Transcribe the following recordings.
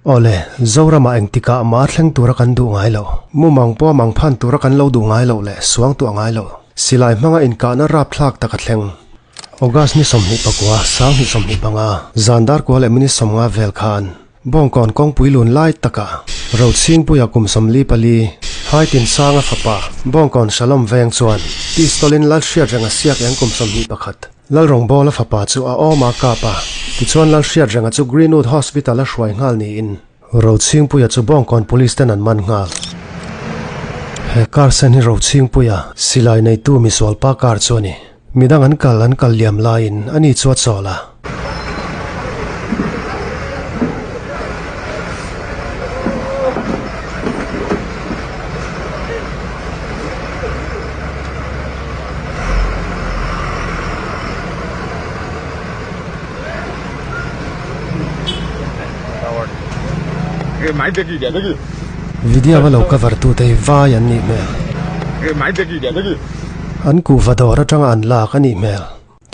Ole, Zorama engtika mar thleng tura kan duh ngai lo. Mumang pawh mang phan tura kan lo duh ngai lo leh suang tua ngai lo. Silai hmanga inkahna rapthlak tak a thleng. August ni sawmhnih pakua sang ni sawmhnih panga zan dar kua leh mini sawmnga vel khan bawngkawn kawngpui lun lai taka rochhingpuia kum sawmli pali haitin sanga fapa bawngkawn shalom veng chuan pistolin lal hriat reng a siak eng kum sawmhnih pakhat Lalrawngbawla fapa chu a awm a kap a, tichuan Lalhriatrenga chu Greenwood Hospital a hruai nghal niin Rochhingpuia chu Bawngkawn police ten an man nghal. He car sen hi Rochhingpuia silai neitu misualpa car chu a ni. Midang an kal an kal liam laiin ani chu a chawl a. video a lo cover tu te vai an nih hmel an kuhva dawr atanga an lak a nih hmel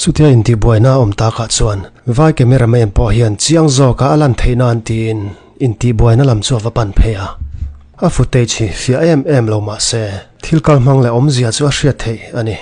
Chutia intibuaina awm takah chuan vai camera man pawh hian chiang zawka a lan theih nan tiin intibuaina lam chu a va pan phei a. A footage hi fiah em em lo mah se thil kal hmang leh awmzia chu a hriat theih a ni.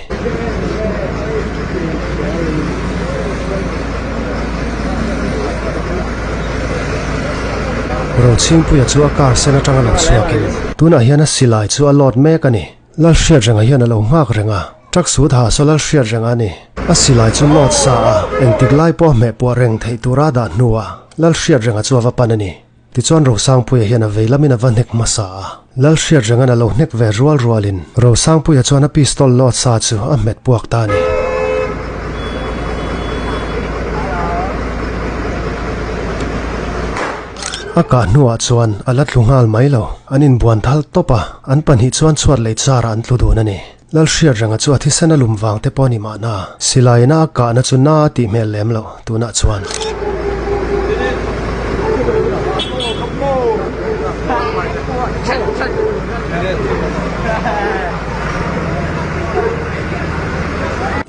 Rochhingpuia chu a car sen atanga lo chhuakin tunah hian a silai chu a load mek a ni. Lalhriatrenga hian a lo nghak reng a, truck sut ha so Lalhriatrenga ni. A silai chu nawt sa a, engtik lai pawh hmehpuah reng theih tura dah hnua Lalhriatrenga chu a va pan a ni. Tichuan Rosangpuia hian a veilamin a va hnek hmasa a. Lalhriatrenga'n a lo hnek ve rual rualin Rosangpuia chuan a pistol lawt sa chu a hmet puak ta ni. A ka hnuah chuan a la tlu nghal mai lo. An inbuan thal tawp a, an pahnih chuan chhuat lei charah an tlu dun a ni lal hriatranga chu a thisen a lum vang te pawh ni mahna silaina a kahna chu na a tih hmel lem loh tunah chuan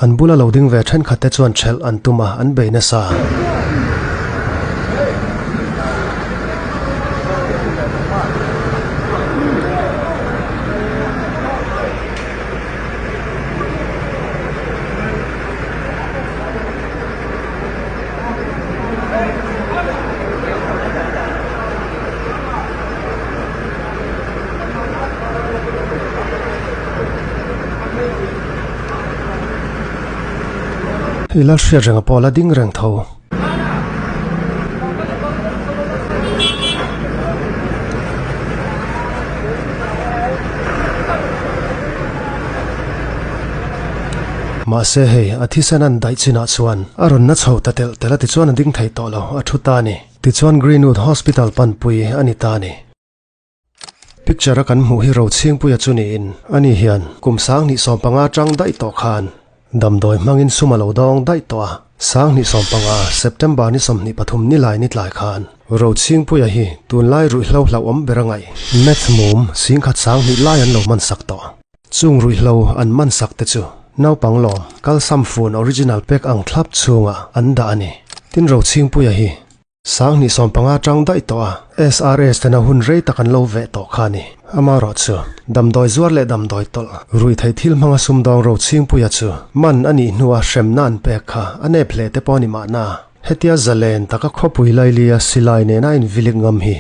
an bula lo ding ve ṭhenkhat te chuan ṭhelh an tum a an bei nasa i la hriat reng a pawl a ding reng tho mahse hei a thisen an daih chinah chuan a rawn na chho ta tel tel a ti chuan a ding thei tawh lo a thu ta ni tichuan Greenwood Hospital panpui a ni ta ni Picture-a kan hmuh hi Rochhingpuia chu niin, ani hian kum sang hnih sawm panga ṭang daih tawh khan damdawi hmangin sum a lo dawng daih tawh a. Sang hnih sawm panga September ni sawmhnih pathum nilai ni tlai khan Rochhingpuia hi tunlai ruihhlo hlauhawm bera ngaih meth mum singkhat sang hnih lai an lo mansak tawh. Chung ruihhlo an mansak te chu naupang lawm kalsam fun original pack ang thlap chunga an dah a ni. Tin Rochhingpuia hi sang hnih sawm panga tang dai to a SRS ten a hun rei tak an lo ve to kha ni amaro chu damdawi zuar leh damdawi tol rui thei thil hmanga sumdawng ro chingpuia chu man ani hnua hremna an pek kha anep hle te pawni ma na hetia zalen taka khawpui lailia silai nena in vilik ngam hi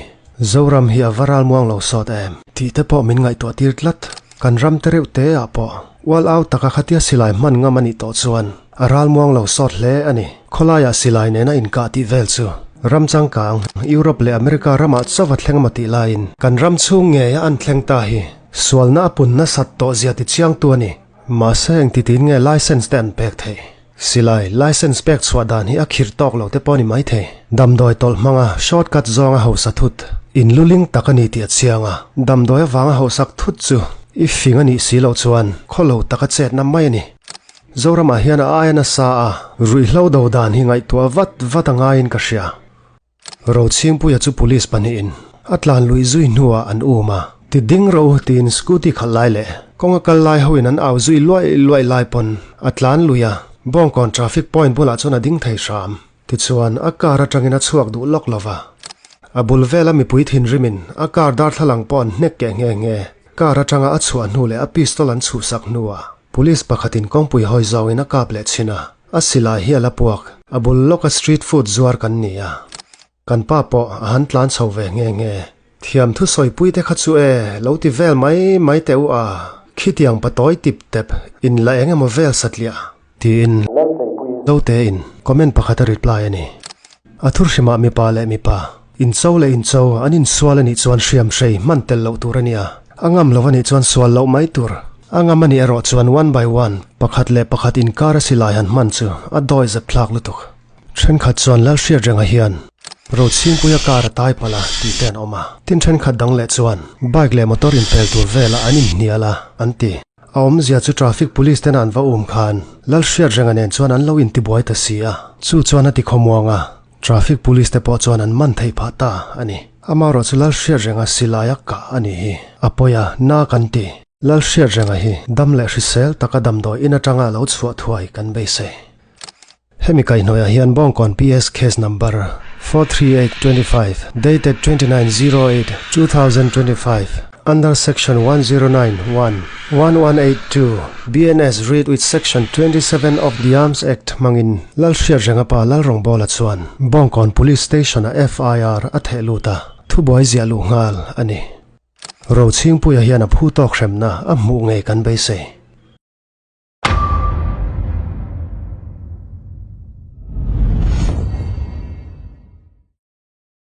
zoram hi a varal muang lo sawt em ti te pawh min ngaihtuah tir tlat kan ram tereuh te ah pawh wal au taka khatia silai man ngam ani to chuan a ral muang lo sawt hle ani kholaiah silai nena inkah tih vel chu ram changkang Europe leh America ramah chauva thleng ma ti laiin kan ram chung ngeia an thleng ta hi sualna a punna sat to zia ti chiang tu ani mahse eng ti tin nge license te an pek theih Silai license pek chhuah dan hi a khirh tawk lo te pawh ni mai thei. Damdawi tawlh hmanga shortcut zawnga hausa thut inluling tak a ni tih a chiang a. Damdawi avanga hausak thut chu i fing a nih si loh chuan khawlo taka chetna mai a ni. Zoramah hian a aia nasa a, ruihhlo do dan hi ngaihtuah vat vat a ngaiin ka hria. Rochhingpuia chu police pahnihin a tlan lui zui hnuah an um a, ti ding rawh u tiin scooty khalh lai leh kawnga kal lai hoin an au zui luai luai lai pawn a tlan lui a, Bawngkawn traffic point bulah chuan a ding thei hram. Tichuan a car atangin a chhuak duh lawk lova. A bul vela mipui thinrimin a car darthlalang pawh an hnek ke nge nge car atanga a chhuah hnu leh a pistol an chhuhsak hnuah Police pakhatin kawngpui hawi zawin a kap leh thin a, a silai hi a la puak. A bul lawka street food zuar kan ni a. Kan pa pawh a han tlan chho ve nghe nghe. Thiam thu sawipui te kha chu e, lo ti vel mai mai te u a. Khitiang pa tawi tip tep in la engemaw vel satliah tiin note in comment pakhat a reply ani. A thurhrimah mipa leh mipa In cho leh in cho an insual a nih chuan hriam hrei man tel loh tur a nia. A ngam lo a nih chuan sual loh mai tur. A ngam a nih erawh chuan one by one, pakhat leh pakhat inkar a silai han man chu a dawi zep thlak lutuk. Thenkhat chuan lal hriatrenga hian Rochhingpuia kar a tai pala ti ten awma tin thenkhat dang leh chuan bike leh motor inphel tur vela an inhniala an ti a awmzia chu traffic police ten an va um khan lal hriatrenga nen chuan an lo intibuai ta si a chu chuan a ti khawmuanga Traffic police te pawh chuan an man theih phah ta ani. Amarawhchu Lal Hriatrenga silaia ka ani hi apoya na kan ti. Lal Hriatrenga hi dam leh hrisel taka damdawi in atanga lo chhuah thuai kan beisei. Hemi kaihnuai hian Bongkawn PS case number 43825 dated 2908 2025 Under Section 1091 1182 BNS read with Section 27 of the Arms Act mangin Lal Hriatrengapa Lal Rongbola chuan Bongkawn Police Station a FIR a thehluta thu buai zia lu ngal ani Rochingpuia hian a phu tawk hremna a hmu nge kan beisei